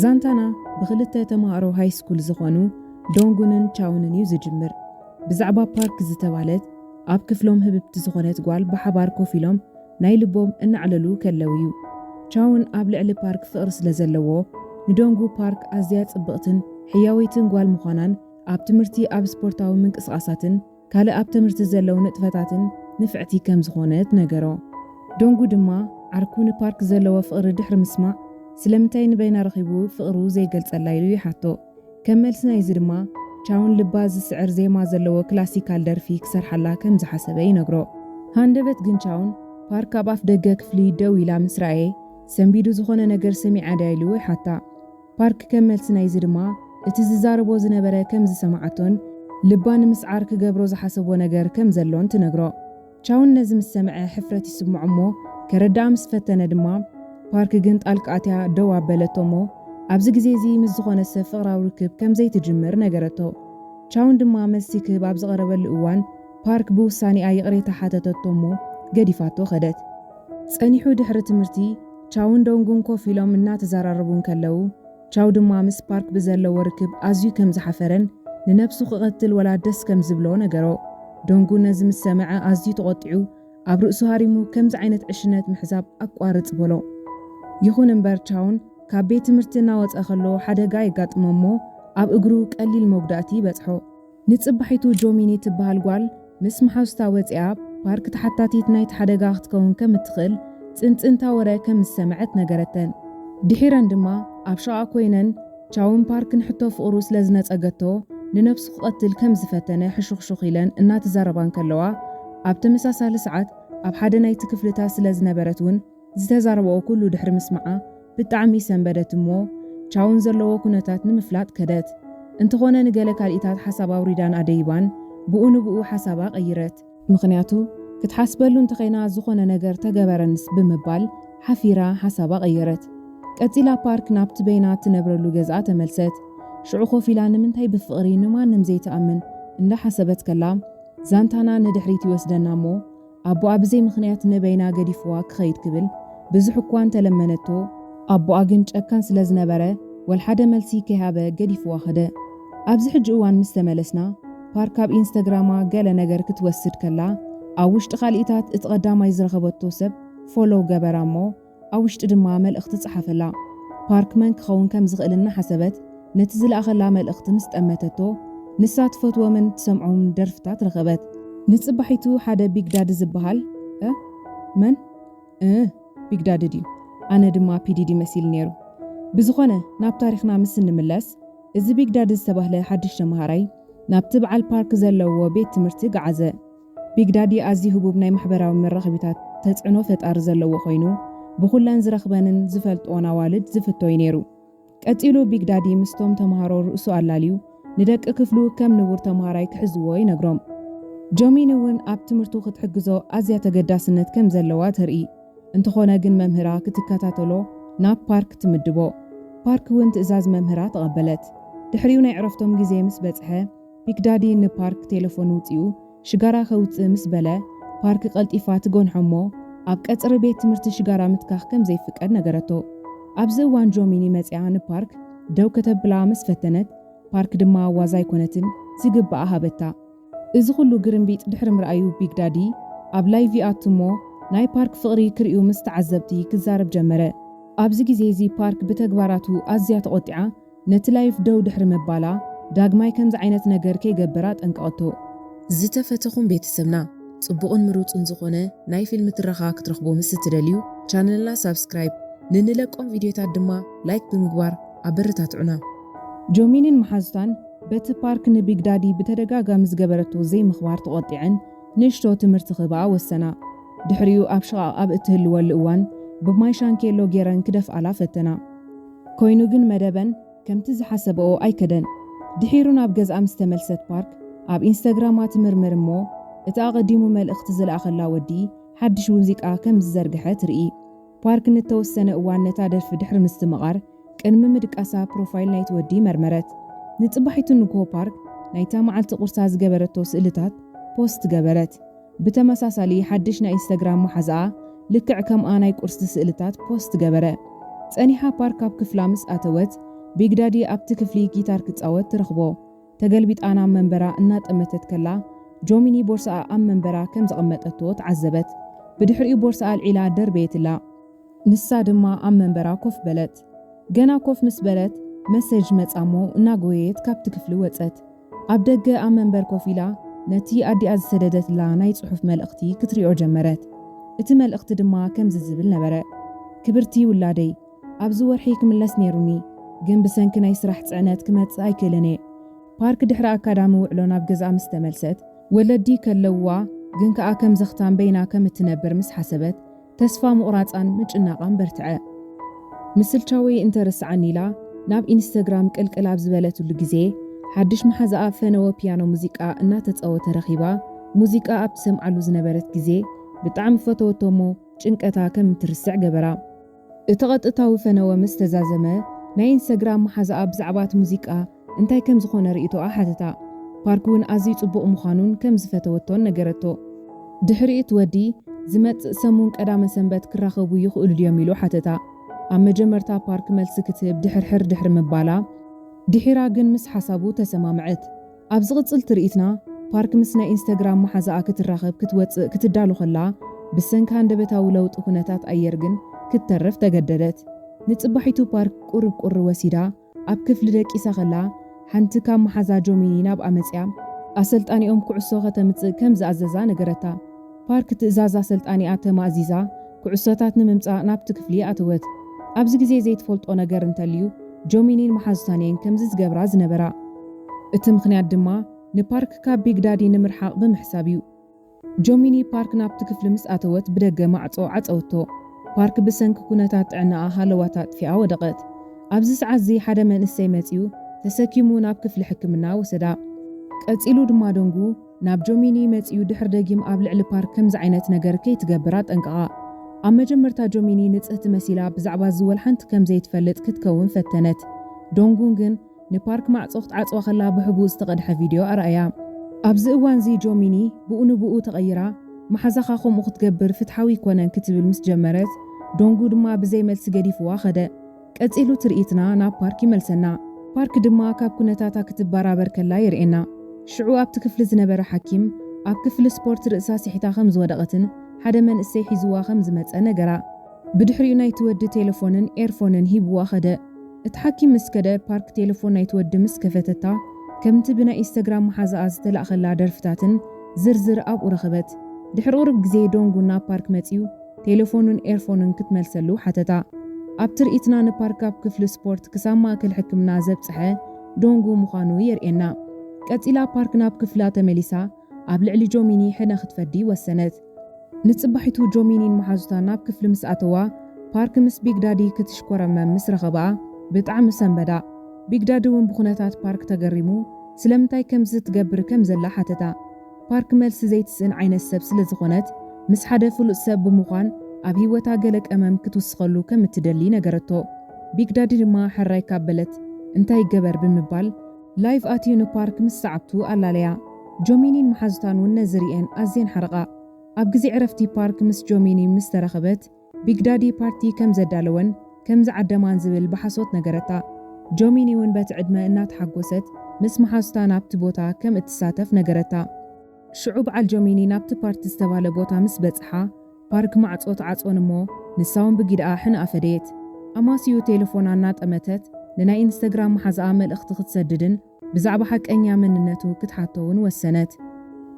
ዛንታና ብኽልተ ተማሃሮ ሃይስኩል ዝኾኑ ዶንጉንን ቻውንን እዩ ዝጅምር። ብዛዕባ ፓርክ ዝተባህለት ኣብ ክፍሎም ህብብቲ ዝኾነት ጓል ብሓባር ኮፍ ኢሎም ናይ ልቦም እናዕለሉ ከለው እዩ። ቻውን ኣብ ልዕሊ ፓርክ ፍቕሪ ስለ ዘለዎ ንዶንጉ ፓርክ ኣዝያ ጽብቕትን ሕያወይትን ጓል ምዃናን ኣብ ትምህርቲ ኣብ ስፖርታዊ ምንቅስቓሳትን ካልእ ኣብ ትምህርቲ ዘለው ንጥፈታትን ንፍዕቲ ከም ዝኾነት ነገሮ። ዶንጉ ድማ ዓርኩ ንፓርክ ዘለዎ ፍቕሪ ድሕሪ ምስማዕ ስለምንታይ ንበይና ረኺቡ ፍቕሩ ዘይገልጸላ ኢሉ ይሓቶ። ከም መልሲ ናይዚ ድማ ቻውን ልባ ዝስዕር ዜማ ዘለዎ ክላሲካል ደርፊ ክሰርሓላ ከም ዝሓሰበ ይነግሮ። ሃንደበት ግን ቻውን ፓርክ ኣብ ኣፍደገ ክፍሊ ደው ኢላ ምስ ረኣየ ሰንቢዱ ዝኾነ ነገር ሰሚዓ ድያ ኢሉ ይሓታ። ፓርክ ከም መልሲ ናይዚ ድማ እቲ ዝዛረቦ ዝነበረ ከም ዝሰማዓቶን ልባ ንምስዓር ክገብሮ ዝሓሰቦ ነገር ከም ዘሎን ትነግሮ። ቻውን ነዚ ምስ ሰምዐ ሕፍረት ይስምዖ እሞ ከረድኣ ምስ ፈተነ ድማ ፓርክ ግን ጣልቃ ኣትያ ደው ኣበለቶ እሞ ኣብዚ ግዜ እዚ ምስ ዝኾነ ሰብ ፍቕራዊ ርክብ ከም ዘይትጅምር ነገረቶ። ቻውን ድማ መልሲ ክህብ ኣብ ዝቐረበሉ እዋን ፓርክ ብውሳኔኣ ይቕሬታ ሓተተቶ እሞ ገዲፋቶ ከደት። ጸኒሑ ድሕሪ ትምህርቲ ቻውን ዶንግን ኮፍ ኢሎም እናተዘራረቡ እንከለዉ፣ ቻው ድማ ምስ ፓርክ ብዘለዎ ርክብ ኣዝዩ ከም ዝሓፈረን ንነብሱ ክቐትል ወላ ደስ ከም ዝብሎ ነገሮ። ዶንጉ ነዚ ምስ ሰምዐ ኣዝዩ ተቖጢዑ ኣብ ርእሱ ሃሪሙ ከምዚ ዓይነት ዕሽነት ምሕዛብ ኣቋርጽ በሎ። ይኹን እምበር ቻውን ካብ ቤት ትምህርቲ እናወጸ ከሎ ሓደጋ የጋጥሞ እሞ ኣብ እግሩ ቀሊል መጉዳእቲ ይበጽሖ። ንጽባሒቱ ጆሚኒ ትበሃል ጓል ምስ መሓዙታ ወጺኣ ፓርክ ተሓታቲት ናይቲ ሓደጋ ክትከውን ከም እትኽእል ጽንጽንታ ወረ ከም ዝሰምዐት ነገረተን። ድሒረን ድማ ኣብ ሸቕኣ ኮይነን ቻውን ፓርክ ንሕቶ ፍቕሩ ስለ ዝነጸገቶ ንነብሱ ክቐትል ከም ዝፈተነ ሕሹኽሹኽ ኢለን እናተዛረባ እንከለዋ ኣብ ተመሳሳሊ ሰዓት ኣብ ሓደ ናይቲ ክፍልታት ስለ ዝነበረት ውን ዝተዛረበኦ ኩሉ ድሕሪ ምስማዓ ብጣዕሚ ሰንበደት እሞ ቻው ንዘለዎ ኩነታት ንምፍላጥ ከደት። እንተኾነ ንገለ ካልኢታት ሓሳብ ኣውሪዳን ኣደይባን ብኡ ንብኡ ሓሳባ ቀይረት። ምኽንያቱ ክትሓስበሉ እንተኸይና ዝኾነ ነገር ተገበረንስ ብምባል ሓፊራ ሓሳባ ቀየረት። ቀጺላ ፓርክ ናብቲ በይና እትነብረሉ ገዝኣ ተመልሰት። ሽዑ ኮፍ ኢላ ንምንታይ ብፍቕሪ ንማንም ዘይትኣምን እንዳሓሰበት ከላ ዛንታና ንድሕሪት ይወስደና እሞ ኣቦኣ ብዘይ ምኽንያት ንበይና ገዲፍዋ ክኸይድ ክብል ብዙሕ እኳ እንተ ለመነቶ፣ ኣቦኣ ግን ጨካን ስለ ዝነበረ ወልሓደ መልሲ ከይሃበ ገዲፍዋ ከደ። ኣብዚ ሕጂ እዋን ምስ ተመለስና፣ ፓር ካብ ኢንስተግራማ ገለ ነገር ክትወስድ ከላ ኣብ ውሽጢ ካልኢታት እቲ ቀዳማይ ዝረኸበቶ ሰብ ፎሎው ገበራ እሞ፣ ኣብ ውሽጢ ድማ መልእኽቲ ጸሓፈላ። ፓርክ መን ክኸውን ከም ዝኽእል እናሓሰበት ነቲ ዝለኣኸላ መልእኽቲ ምስ ጠመተቶ፣ ንሳ ትፈትዎምን ትሰምዖምን ደርፍታት ረኸበት። ንጽባሒቱ ሓደ ቢግ ዳዲ ዝበሃል፣ እ፣ መን? እህ፣ ቢግ ዳዲ ድዩ? ኣነ ድማ ፒ ዲዲ መሲልኒ ነይሩ። ብዝኾነ ናብ ታሪኽና ምስ እንምለስ፣ እዚ ቢግ ዳዲ ዝተባህለ ሓድሽ ተመሃራይ ናብቲ በዓል ፓርክ ዘለዎ ቤት ትምህርቲ ገዓዘ። ቢግ ዳዲ ኣዝዩ ህቡብ ናይ ማሕበራዊ መራኸቢታት ተጽዕኖ ፈጣሪ ዘለዎ ኮይኑ፣ ብኹለን ዝረኽበንን ዝፈልጥኦን ኣዋልድ ዝፍቶ እዩ ነይሩ። ቀጺሉ ቢግ ዳዲ ምስቶም ተማሃሮ ርእሱ ኣላልዩ ንደቂ ክፍሉ ከም ንቡር ተማሃራይ ክሕዝዎ ይነግሮም። ጆሚን እውን ኣብ ትምህርቱ ክትሕግዞ ኣዝያ ተገዳስነት ከም ዘለዋ ተርኢ። እንተኾነ ግን መምህራ ክትከታተሎ ናብ ፓርክ ትምድቦ። ፓርክ እውን ትእዛዝ መምህራ ተቐበለት። ድሕሪኡ ናይ ዕረፍቶም ግዜ ምስ በጽሐ፣ ቢግ ዳዲ ንፓርክ ቴለፎን ውጽኡ ሽጋራ ከውጽእ ምስ በለ፣ ፓርክ ቀልጢፋ ትጎንሖ እሞ ኣብ ቀጽሪ ቤት ትምህርቲ ሽጋራ ምትካኽ ከም ዘይፍቀድ ነገረቶ። ኣብዚ እዋን ጆሚኒ መጺኣ ንፓርክ ደው ከተብላ ምስ ፈተነት፣ ፓርክ ድማ ዋዛ ኣይኮነትን ዝግብኣ ሃበታ። እዚ ኩሉ ግርምቢጥ ድሕሪ ምርኣዩ ቢግ ዳዲ ኣብ ላይቭ ይኣቱ እሞ ናይ ፓርክ ፍቕሪ ክርእዩ ምስ ተዓዘብቲ ክዛረብ ጀመረ። ኣብዚ ግዜ እዚ ፓርክ ብተግባራቱ ኣዝያ ተቖጢዓ፣ ነቲ ላይፍ ደው ድሕሪ ምባላ ዳግማይ ከምዚ ዓይነት ነገር ከይገብር ኣጠንቀቐቶ። ዝተፈተኹም ቤተሰብና ጽቡቕን ምሩጽን ዝኾነ ናይ ፊልም ትረኻ ክትረኽቡ ምስ እትደልዩ ቻነልና ሳብስክራይብ ንንለቆም ቪድዮታት ድማ ላይክ ብምግባር ኣበረታትዑና። ጆሚንን መሓዙታን በቲ ፓርክ ንቢግ ዳዲ ብተደጋጋሚ ዝገበረቶ ዘይምኽባር ተቖጢዐን ንእሽቶ ትምህርቲ ክህብኣ ወሰና። ድሕሪኡ ኣብ ሽቓቕ ኣብ እትህልወሉ እዋን ብማይ ሻንኬሎ ጌረን ክደፍኣላ ፈተና። ኮይኑ ግን መደበን ከምቲ ዝሓሰበኦ ኣይከደን። ድሒሩ ናብ ገዝኣ ምስ ተመልሰት ፓርክ ኣብ ኢንስተግራማ ትምርምር እሞ እቲ ኣቐዲሙ መልእኽቲ ዝለኣኸላ ወዲ ሓድሽ ውዚቃ ከም ዝዘርግሐ ትርኢ። ፓርክ ንተወሰነ እዋን ነታ ደርፊ ድሕሪ ምስትምቓር ቅድሚ ምድቃሳ ፕሮፋይል ናይቲ ወዲ መርመረት። ንጽባሒቱ ንግሆ ፓርክ ናይታ መዓልቲ ቁርሳ ዝገበረቶ ስእልታት ፖስት ገበረት። ብተመሳሳሊ ሓድሽ ናይ ኢንስታግራም መሓዝኣ ልክዕ ከምኣ ናይ ቁርሲ ስእልታት ፖስት ገበረ። ጸኒሓ ፓርክ ኣብ ክፍላ ምስ ኣተወት፣ ቢግ ዳዲ ኣብቲ ክፍሊ ጊታር ክጻወት ትረኽቦ። ተገልቢጣ ናብ መንበራ እናጠመተት ከላ፣ ጆሚኒ ቦርስኣ ኣብ መንበራ ከም ዘቐመጠቶ ተዓዘበት። ብድሕሪኡ ቦርስኣ ኣልዒላ ደርበየትላ። ንሳ ድማ ኣብ መንበራ ኮፍ በለት። ገና ኮፍ ምስ በለት፣ መሰጅ መጻ እሞ እናጎየየት ካብቲ ክፍሊ ወጸት። ኣብ ደገ ኣብ መንበር ኮፍ ኢላ ነቲ ኣዲኣ ዝሰደደትላ ናይ ጽሑፍ መልእኽቲ ክትሪኦ ጀመረት። እቲ መልእኽቲ ድማ ከምዚ ዝብል ነበረ፣ ክብርቲ ውላደይ፣ ኣብዚ ወርሒ ክምለስ ነይሩኒ፣ ግን ብሰንኪ ናይ ስራሕ ጽዕነት ክመጽእ ኣይክእልን እየ። ፓርክ ድሕሪ ኣካዳሚ ውዕሎ ናብ ገዝኣ ምስ ተመልሰት፣ ወለዲ ከለዉዋ ግን ከኣ ከም ዘኽታም በይና ከም እትነብር ምስ ሓሰበት፣ ተስፋ ምቑራጻን ምጭናቓን በርትዐ። ምስልቻወይ እንተ ረስዓኒ ኢላ ናብ ኢንስተግራም ቅልቅል ኣብ ዝበለትሉ ግዜ፣ ሓድሽ መሓዛኣ ፈነወ ፒያኖ ሙዚቃ እናተጻወተ ረኺባ። ሙዚቃ ኣብ ትሰምዓሉ ዝነበረት ግዜ ብጣዕሚ ፈተወቶ እሞ ጭንቀታ ከም እትርስዕ ገበራ። እቲ ቐጥታዊ ፈነወ ምስ ተዛዘመ፣ ናይ ኢንስተግራም መሓዛኣ ብዛዕባ እቲ ሙዚቃ እንታይ ከም ዝዀነ ርእይቶኣ ሓተታ። ፓርክ'ውን ኣዝዩ ጽቡቕ ምዃኑን ከም ዝፈተወቶን ነገረቶ። ድሕሪ እቲ ወዲ፣ ዝመጽእ ሰሙን ቀዳመ ሰንበት ክራኸቡ ይኽእሉ ድዮም? ኢሉ ሓተታ። ኣብ መጀመርታ ፓርክ መልሲ ክትህብ ድሕርሕር ድሕሪ ምባላ፣ ድሒራ ግን ምስ ሓሳቡ ተሰማምዐት። ኣብ ዝቕጽል ትርኢትና፣ ፓርክ ምስ ናይ ኢንስተግራም መሓዛኣ ክትራኸብ ክትወጽእ ክትዳሎ ከላ፣ ብሰንኪ ሃንደበታዊ ለውጢ ኵነታት ኣየር ግን ክትተርፍ ተገደደት። ንጽባሒቱ ፓርክ ቁሩብ ቁሪ ወሲዳ፣ ኣብ ክፍሊ ደቂሳ ከላ፣ ሓንቲ ካብ መሓዛ ጆሚኒ ናብኣ መጺኣ፣ ኣሰልጣኒኦም ኩዕሶ ከተምጽእ ከም ዝኣዘዛ ነገረታ። ፓርክ ትእዛዝ ኣሰልጣኒኣ ተማእዚዛ፣ ኩዕሶታት ንምምጻእ ናብቲ ክፍሊ ኣተወት። ኣብዚ ግዜ ዘይትፈልጦ ነገር እንተልዩ፣ ጆሚኒን መሓዙታን'የን ከምዚ ዝገብራ ዝነበራ። እቲ ምኽንያት ድማ ንፓርክ ካብ ቢግ ዳዲ ንምርሓቕ ብምሕሳብ'ዩ። ጆሚኒ ፓርክ ናብቲ ክፍሊ ምስ ኣተወት ብደገ ማዕጾ ዓጸወቶ። ፓርክ ብሰንኪ ኩነታት ጥዕናኣ ሃለዋታ ኣጥፊኣ ወደቐት። ኣብዚ ሰዓትዚ ሓደ መንእሰይ መጺኡ ተሰኪሙ ናብ ክፍሊ ሕክምና ወሰዳ። ቀጺሉ ድማ ደንጉ ናብ ጆሚኒ መጺኡ ድሕሪ ደጊም ኣብ ልዕሊ ፓርክ ከምዚ ዓይነት ነገር ከይትገብር ኣጠንቀቓ። ኣብ መጀመርታ ጆሚኒ ንጽህቲ መሲላ ብዛዕባዚ ወልሓንቲ ከም ዘይትፈልጥ ክትከውን ፈተነት። ዶንጉን ግን ንፓርክ ማዕጾ ክትዓጽዋ ከላ ብሕቡእ ዝተቐድሐ ቪድዮ ኣርኣያ። ኣብዚ እዋንዚ ጆሚኒ ብኡ ንብኡ ተቐይራ፣ መሓዛኻ ከምኡ ክትገብር ፍትሓዊ ኣይኮነን ክትብል ምስ ጀመረት፣ ዶንጉ ድማ ብዘይ መልሲ ገዲፍዋ ከደ። ቀጺሉ ትርኢትና ናብ ፓርክ ይመልሰና። ፓርክ ድማ ካብ ኩነታታ ክትበራበር ከላ የርእየና። ሽዑ ኣብቲ ክፍሊ ዝነበረ ሓኪም፣ ኣብ ክፍሊ ስፖርት ርእሳ ስሒታ ከም ዝወደቐትን ሓደ መንእሰይ ሒዝዋ ከም ዝመጸ ነገራ። ብድሕሪኡ ናይቲ ወዲ ቴለፎንን ኤርፎንን ሂቡዋ ከደ። እቲ ሓኪም ምስ ከደ ፓርክ ቴለፎን ናይቲ ወዲ ምስ ከፈተታ ከምቲ ብናይ ኢስተግራም መሓዛኣ ዝተላእከላ ደርፍታትን ዝርዝር ኣብኡ ረኸበት። ድሕሪ ቁሩብ ግዜ ዶንጉ ናብ ፓርክ መጺኡ ቴለፎኑን ኤርፎኑን ክትመልሰሉ ሓተታ። ኣብ ትርኢትና ንፓርክ ካብ ክፍሊ ስፖርት ክሳብ ማእከል ሕክምና ዘብጸሐ ዶንጉ ምዃኑ የርእየና። ቀጺላ ፓርክ ናብ ክፍላ ተመሊሳ ኣብ ልዕሊ ጆሚኒ ሕነ ክትፈዲ ወሰነት። ንጽባሒቱ ጆሚኒን መሓዙታን ናብ ክፍሊ ምስ ኣተዋ፣ ፓርክ ምስ ቢግ ዳዲ ክትሽኮረመም ምስ ረኸብኣ ብጣዕሚ ሰንበዳ። ቢግ ዳዲ'ውን ብኹነታት ፓርክ ተገሪሙ ስለምንታይ ከምዚ ትገብር ከም ዘላ ሓተታ። ፓርክ መልሲ ዘይትስእን ዓይነት ሰብ ስለ ዝኾነት፣ ምስ ሓደ ፍሉጥ ሰብ ብምዃን ኣብ ህይወታ ገለ ቀመም ክትውስኸሉ ከም እትደሊ ነገረቶ። ቢግ ዳዲ ድማ ሕራይ ካብ በለት እንታይ ይገበር ብምባል፣ ላይቭ ኣትዩ ንፓርክ ምስ ሰዓብቱ ኣላለያ። ጆሚኒን መሓዙታን እውን ነዚ ርእየን ኣዝየን ሓረቓ። ኣብ ግዜ ዕረፍቲ ፓርክ ምስ ጆሚኒ ምስ ተራኸበት፣ ቢግ ዳዲ ፓርቲ ከም ዘዳለወን ከም ዝዓደማን ዝብል ብሓሶት ነገረታ። ጆሚኒ እውን በቲ ዕድመ እናተሓጎሰት ምስ መሓዙታ ናብቲ ቦታ ከም እትሳተፍ ነገረታ። ሽዑ በዓል ጆሚኒ ናብቲ ፓርቲ ዝተባህለ ቦታ ምስ በጽሓ፣ ፓርክ ማዕጾ ተዓጽወን እሞ ንሳውን ብጊደኣ ሕነ ኣፈደየት። ኣማስይኡ ቴለፎና እናጠመተት ንናይ ኢንስተግራም መሓዝኣ መልእኽቲ ክትሰድድን ብዛዕባ ሓቀኛ መንነቱ ክትሓቶ እውን ወሰነት።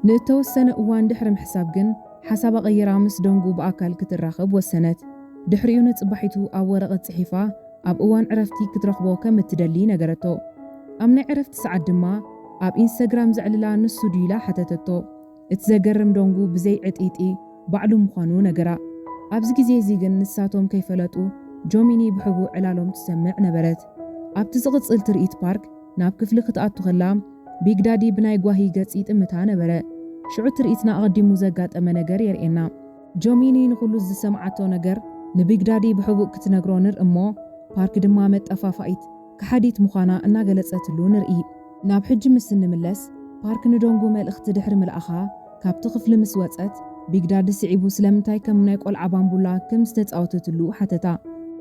ንእተወሰነ እዋን ድሕሪ ምሕሳብ ግን ሓሳባ ቀይራ ምስ ዶንጉ ብኣካል ክትራኸብ ወሰነት። ድሕሪኡ ንጽባሒቱ ኣብ ወረቐት ጽሒፋ ኣብ እዋን ዕረፍቲ ክትረኽቦ ከም እትደሊ ነገረቶ። ኣብ ናይ ዕረፍቲ ሰዓት ድማ፣ ኣብ ኢንስተግራም ዘዕልላ ንሱ ድዩ ኢላ ሓተተቶ። እቲ ዘገርም ዶንጉ ብዘይ ዕጥይጥይ ባዕሉ ምዃኑ ነገራ። ኣብዚ ግዜ እዚ ግን ንሳቶም ከይፈለጡ ጆሚኒ ብሕቡእ ዕላሎም ትሰምዕ ነበረት። ኣብቲ ዝቕጽል ትርኢት ፓርክ ናብ ክፍሊ ክትኣቱ ከላ ቢግ ዳዲ ብናይ ጓሂ ገጽ ይጥምታ ነበረ። ሽዑ ትርኢትና ኣቐዲሙ ዘጋጠመ ነገር የርእየና። ጆሚኒ ንኹሉ ዝሰምዓቶ ነገር ንቢግ ዳዲ ብሕቡእ ክትነግሮ ንርኢ እሞ ፓርክ ድማ መጠፋፋኢት። ከሓዲት ምዃና እናገለጸትሉ ንርኢ። ናብ ሕጂ ምስ እንምለስ፣ ፓርክ ንዶንጉ መልእኽቲ ድሕሪ ምልኣኻ ካብቲ ክፍሊ ምስ ወጸት፣ ቢግ ዳዲ ስዒቡ ስለምንታይ ከም ናይ ቆልዓ ባምቡላ ከም ዝተጻወተትሉ ሓተታ።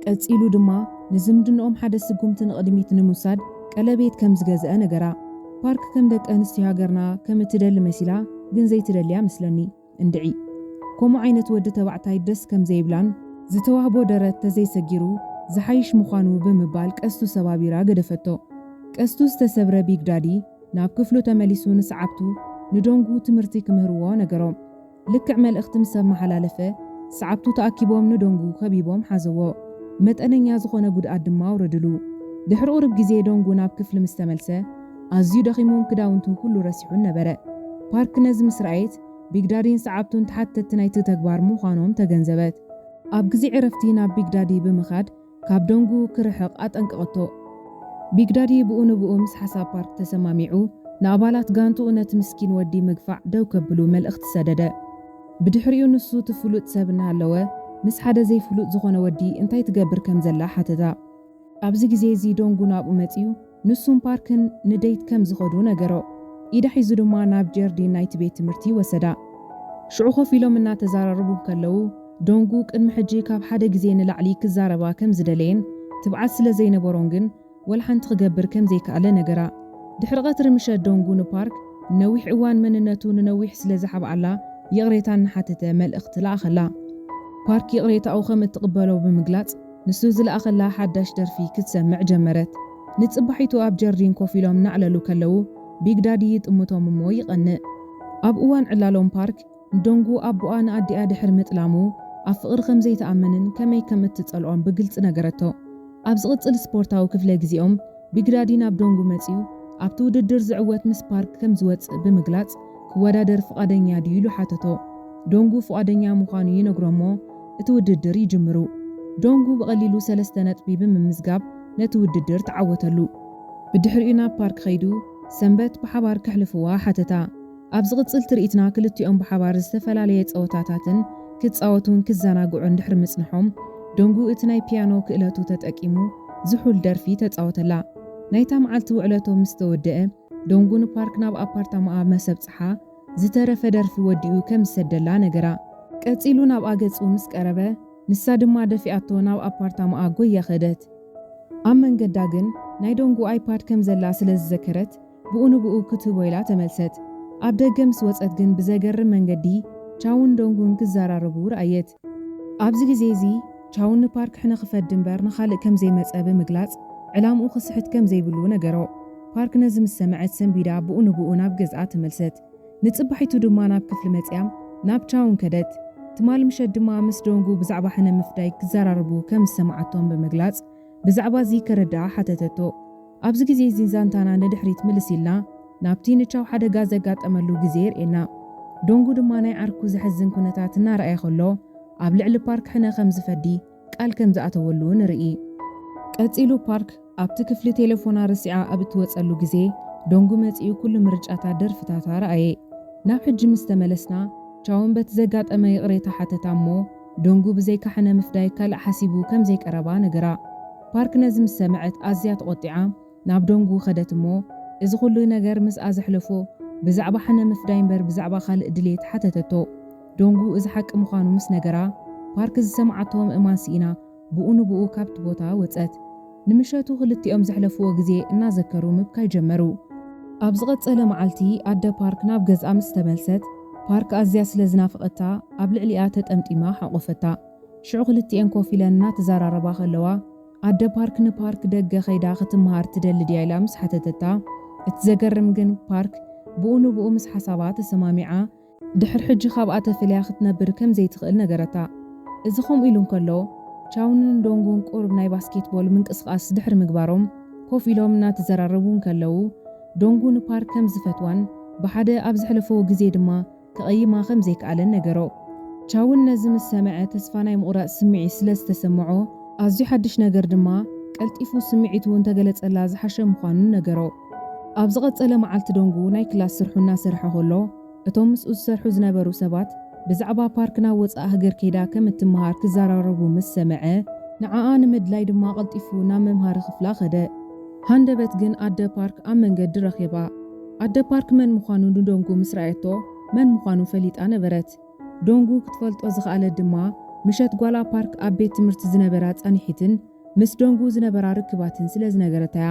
ቀጺሉ ድማ ንዝምድንኦም ሓደ ስጉምቲ ንቕድሚት ንምውሳድ ቀለቤት ከም ዝገዝአ ነገራ። ፓርክ ከም ደቂ ኣንስትዮ ሃገርና ከም እትደሊ መሲላ ግን ዘይትደሊ እያ መስለኒ። እንድዒ ከምኡ ዓይነት ወዲ ተባዕታይ ደስ ከም ዘይብላን ዝተዋህቦ ደረት ተዘይሰጊሩ ዝሓይሽ ምዃኑ ብምባል ቀስቱ ሰባቢራ ገደፈቶ። ቀስቱ ዝተሰብረ ቢግ ዳዲ ናብ ክፍሉ ተመሊሱ ንሰዓብቱ ንዶንጉ ትምህርቲ ክምህርዎ ነገሮም። ልክዕ መልእኽቲ ምስ ኣመሓላለፈ ሰዓብቱ ተኣኪቦም ንዶንጉ ከቢቦም ሓዘዎ። መጠነኛ ዝኾነ ጉድኣት ድማ ኣውረድሉ። ድሕሪ ቁሩብ ግዜ ዶንጉ ናብ ክፍሊ ምስ ተመልሰ፣ ኣዝዩ ደኺሙን ክዳውንቱ ኩሉ ረሲዑን ነበረ። ፓርክ ነዚ ምስ ረኣየት፣ ቢግ ዳዲን ሰዓብቱን ተሓተትቲ ናይቲ ተግባር ምዃኖም ተገንዘበት። ኣብ ግዜ ዕረፍቲ ናብ ቢግ ዳዲ ብምኻድ ካብ ደንጉ ክርሕቕ ኣጠንቀቐቶ። ቢግ ዳዲ ብኡ ንብኡ ምስ ሓሳብ ፓርክ ተሰማሚዑ፣ ንኣባላት ጋንትኡ ነቲ ምስኪን ወዲ ምግፋዕ ደው ከብሉ መልእኽቲ ሰደደ። ብድሕሪኡ ንሱ እቲ ፍሉጥ ሰብ እናሃለወ ምስ ሓደ ዘይፍሉጥ ዝዀነ ወዲ እንታይ ትገብር ከም ዘላ ሓተታ። ኣብዚ ግዜ እዚ ደንጉ ናብኡ መጺኡ፣ ንሱን ፓርክን ንደይት ከም ዝኸዱ ነገሮ። ኢዳ ሒዙ ድማ ናብ ጀርዲን ናይቲ ቤት ትምህርቲ ወሰዳ። ሽዑ ኮፍ ኢሎም እናተዛራረቡ እንከለዉ፣ ዶንጉ ቅድሚ ሕጂ ካብ ሓደ ግዜ ንላዕሊ ክዛረባ ከም ዝደለየን ትብዓት ስለ ዘይነበሮን ግን ወላ ሓንቲ ክገብር ከም ዘይከኣለ ነገራ። ድሕሪ ቀትሪ ምሸት ዶንጉ ንፓርክ ንነዊሕ እዋን መንነቱ ንነዊሕ ስለ ዝሓብኣላ ይቕሬታ እናሓተተ መልእኽቲ ለኣኸላ። ፓርክ ይቕሬታኡ ከም እትቕበሎ ብምግላጽ፣ ንሱ ዝለኣኸላ ሓዳሽ ደርፊ ክትሰምዕ ጀመረት። ንጽባሒቱ ኣብ ጀርዲን ኮፍ ኢሎም እናዕለሉ ከለዉ፣ ቢግ ዳዲ ይጥምቶም እሞ ይቐንእ። ኣብ እዋን ዕላሎም ፓርክ፣ ንዶንጉ ኣቦኣ ንኣዲኣ ድሕሪ ምጥላሙ ኣብ ፍቕሪ ከም ዘይትኣምንን ከመይ ከም እትጸልኦን ብግልጺ ነገረቶ። ኣብ ዝቕጽል ስፖርታዊ ክፍለ ግዜኦም፣ ቢግ ዳዲ ናብ ዶንጉ መጺኡ፣ ኣብቲ ውድድር ዝዕወት ምስ ፓርክ ከም ዝወጽእ ብምግላጽ ክወዳደር ፍቓደኛ ድዩ ኢሉ ሓተቶ። ዶንጉ ፍቓደኛ ምዃኑ ይነግሮ'ሞ፣ እቲ ውድድር ይጅምሩ። ዶንጉ ብቐሊሉ ሰለስተ ነጥቢ ብምምዝጋብ ነቲ ውድድር ተዓወተሉ። ብድሕሪኡ ናብ ፓርክ ከይዱ ሰንበት ብሓባር ከሕልፍዋ ሓተታ። ኣብ ዝቕጽል ትርኢትና ክልቲኦም ብሓባር ዝተፈላለየ ጸወታታትን ክጻወቱን ክዘናግዑን ድሕሪ ምጽንሖም፣ ዶንጉ እቲ ናይ ፒያኖ ክእለቱ ተጠቂሙ ዝሑል ደርፊ ተጻወተላ። ናይታ መዓልቲ ውዕለቶም ምስ ተወደኣ፣ ዶንጉ ንፓርክ ናብ ኣፓርታማኣ ምስ ኣብጽሓ፣ ዝተረፈ ደርፊ ወዲኡ ከም ዝሰደላ ነገራ። ቀጺሉ ናብኣ ገጹ ምስ ቀረበ፣ ንሳ ድማ ደፊኣቶ ናብ ኣፓርታማኣ ጎያ ከደት። ኣብ መንገዳ ግን ናይ ዶንጉ ኣይፓድ ከም ዘላ ስለ ዝዘከረት ብኡ ንብኡ ክትህቦ ኢላ ተመልሰት። ኣብ ደገ ምስ ወጸት ግን ብዘገርም መንገዲ ቻውን ዶንጉን ክዘራረቡ ረኣየት። ኣብዚ ግዜ'ዚ ቻው ንፓርክ ሕነ ክፈዲ እምበር ንኻልእ ከም ዘይመጸ ብምግላጽ ዕላምኡ ክስሕት ከም ዘይብሉ ነገሮ። ፓርክ ነዚ ምስ ሰምዐት ሰንቢዳ ብኡ ንብኡ ናብ ገዝኣ ተመልሰት። ንጽባሒቱ ድማ ናብ ክፍሊ መጺኣም ናብ ቻውን ከደት። ትማል ምሸት ድማ ምስ ዶንጉ ብዛዕባ ሕነ ምፍዳይ ክዘራረቡ ከም ዝሰምዓቶም ብምግላጽ ብዛዕባ'ዚ ከረድኣ ሓተተቶ። ኣብዚ ግዜ እዚ ዛንታና ንድሕሪት ምልስ ኢልና ናብቲ ንቻው ሓደጋ ዘጋጠመሉ ግዜ የርእየና። ዶንጉ ድማ ናይ ዓርኩ ዘሕዝን ኩነታት እናረኣየ ከሎ ኣብ ልዕሊ ፓርክ ሕነ ከም ዝፈዲ ቃል ከም ዝኣተወሉ ንርኢ። ቀጺሉ ፓርክ ኣብቲ ክፍሊ ቴለፎና ረሲዓ ኣብ እትወጸሉ ግዜ ዶንጉ መጺኡ ኩሉ ምርጫታት ደርፍታታ ረኣየ። ናብ ሕጂ ምስ ተመለስና ቻውን በቲ ዘጋጠመ ይቕሬታ ሓተታ እሞ ዶንጉ ብዘይካ ሕነ ምፍዳይ ካልእ ሓሲቡ ከም ዘይቀረባ ነገራ። ፓርክ ነዚ ምስ ሰምዐት ኣዝያ ተቖጢዓ ናብ ዶንጉ ከደት እሞ እዚ ኹሉ ነገር ምስኣ ዘሕለፎ ብዛዕባ ሓነ ምፍዳይ እምበር ብዛዕባ ካልእ ድልየት ሓተተቶ። ዶንጉ እዚ ሓቂ ምዃኑ ምስ ነገራ ፓርክ ዝሰምዓቶ ምእማን ስኢና ብኡ ንብኡ ካብቲ ቦታ ወጸት። ንምሸቱ ክልቲኦም ዘሕለፍዎ ግዜ እናዘከሩ ምብካይ ጀመሩ። ኣብ ዝቐጸለ መዓልቲ ኣደ ፓርክ ናብ ገዝኣ ምስ ተመልሰት ፓርክ ኣዝያ ስለ ዝናፈቐታ ኣብ ልዕሊኣ ተጠምጢማ ሓቖፈታ። ሽዑ ክልቲኤን ኮፍ ኢለን እናተዘራረባ ከለዋ፣ ኣደ ፓርክ ንፓርክ ደገ ከይዳ ክትመሃር ትደሊ ድያ ኢላ ምስ ሓተተታ፣ እቲ ዘገርም ግን ፓርክ ብኡ ንብኡ ምስ ሓሳባ ተሰማሚዓ፣ ድሕሪ ሕጂ ካብኣ ተፈልያ ክትነብር ከም ዘይትኽእል ነገረታ። እዚ ከምኡ ኢሉ እንከሎ፣ ቻውንን ዶንጉን ቁሩብ ናይ ባስኬትቦል ምንቅስቓስ ድሕሪ ምግባሮም ኮፍ ኢሎም እናተዘራረቡ እንከለዉ፣ ዶንጉ ንፓርክ ከም ዝፈትዋን ብሓደ ኣብ ዘሕለፈዎ ግዜ ድማ ክቕይማ ከም ዘይክኣለን ነገሮ። ቻውን ነዚ ምስ ሰምዐ ተስፋ ናይ ምቑራጽ ስምዒት ስለ ዝተሰምዖ፣ ኣዝዩ ሓድሽ ነገር ድማ ቀልጢፉ ስምዒቱ እንተ ገለጸላ ዝሓሸ ምዃኑ ነገሮ። ኣብ ዝቐጸለ መዓልቲ ዶንጉ ናይ ክላስ ስርሑ እናሰርሐ ከሎ፣ እቶም ምስኡ ዝሰርሑ ዝነበሩ ሰባት ብዛዕባ ፓርክ ናብ ወጻእ ሃገር ከይዳ ከም እትመሃር ክዘራረቡ ምስ ሰምዐ፣ ንዓኣ ንምድላይ ድማ ቀልጢፉ ናብ መምሃሪ ክፍላ ከደ። ሃንደበት ግን ኣደ ፓርክ ኣብ መንገዲ ረኺባ። ኣደ ፓርክ መን ምዃኑ ንዶንጉ ምስ ረኣየቶ መን ምዃኑ ፈሊጣ ነበረት። ዶንጉ ክትፈልጦ ዝኸኣለት ድማ ምሸት ጓላ ፓርክ ኣብ ቤት ትምህርቲ ዝነበራ ፃንሒትን ምስ ዶንጉ ዝነበራ ርክባትን ስለ ዝነገረታ እያ።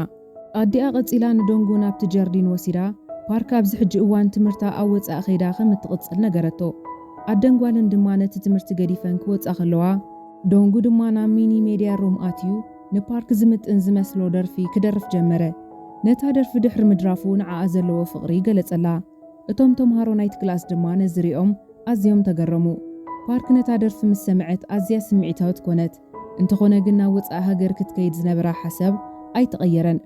ኣዲኣ ቀፂላ ንዶንጉ ናብቲ ጀርዲን ወሲዳ ፓርክ ኣብዚ ሕጂ እዋን ትምህርታ ኣብ ወፃኢ ከይዳ ከም እትቕፅል ነገረቶ። ኣደን ጓልን ድማ ነቲ ትምህርቲ ገዲፈን ክወፃ ከለዋ ዶንጉ ድማ ናብ ሚኒ ሜድያ ሩም ኣትዩ ንፓርክ ዝምጥን ዝመስሎ ደርፊ ክደርፍ ጀመረ። ነታ ደርፊ ድሕሪ ምድራፉ ንዓኣ ዘለዎ ፍቕሪ ገለጸላ። እቶም ተምሃሮ ናይቲ ክላስ ድማ ነዚ ሪኦም ኣዝዮም ተገረሙ። ፓርክ ነታ ደርፊ ምስ ሰምዐት ኣዝያ ስምዒታዊት ኮነት። እንተኾነ ግን ናብ ወጻኢ ሃገር ክትከይድ ዝነበራ ሓሳብ ኣይተቐየረን።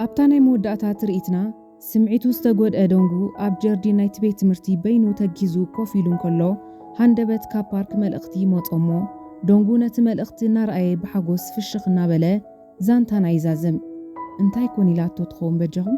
ኣብታ ናይ መወዳእታ ትርኢትና፣ ስምዒቱ ዝተጐድኤ ዶንጉ ኣብ ጀርዲን ናይቲ ቤት ትምህርቲ በይኑ ተጊዙ ኮፍ ኢሉ እንከሎ፣ ሃንደበት ካብ ፓርክ መልእኽቲ ይመጾ እሞ፣ ዶንጉ ነቲ መልእኽቲ እናረኣየ ብሓጐስ ፍሽኽ እናበለ ዛንታና ይዛዝም። እንታይ ኮን ኢላቶ ትኸውን በጃኹም?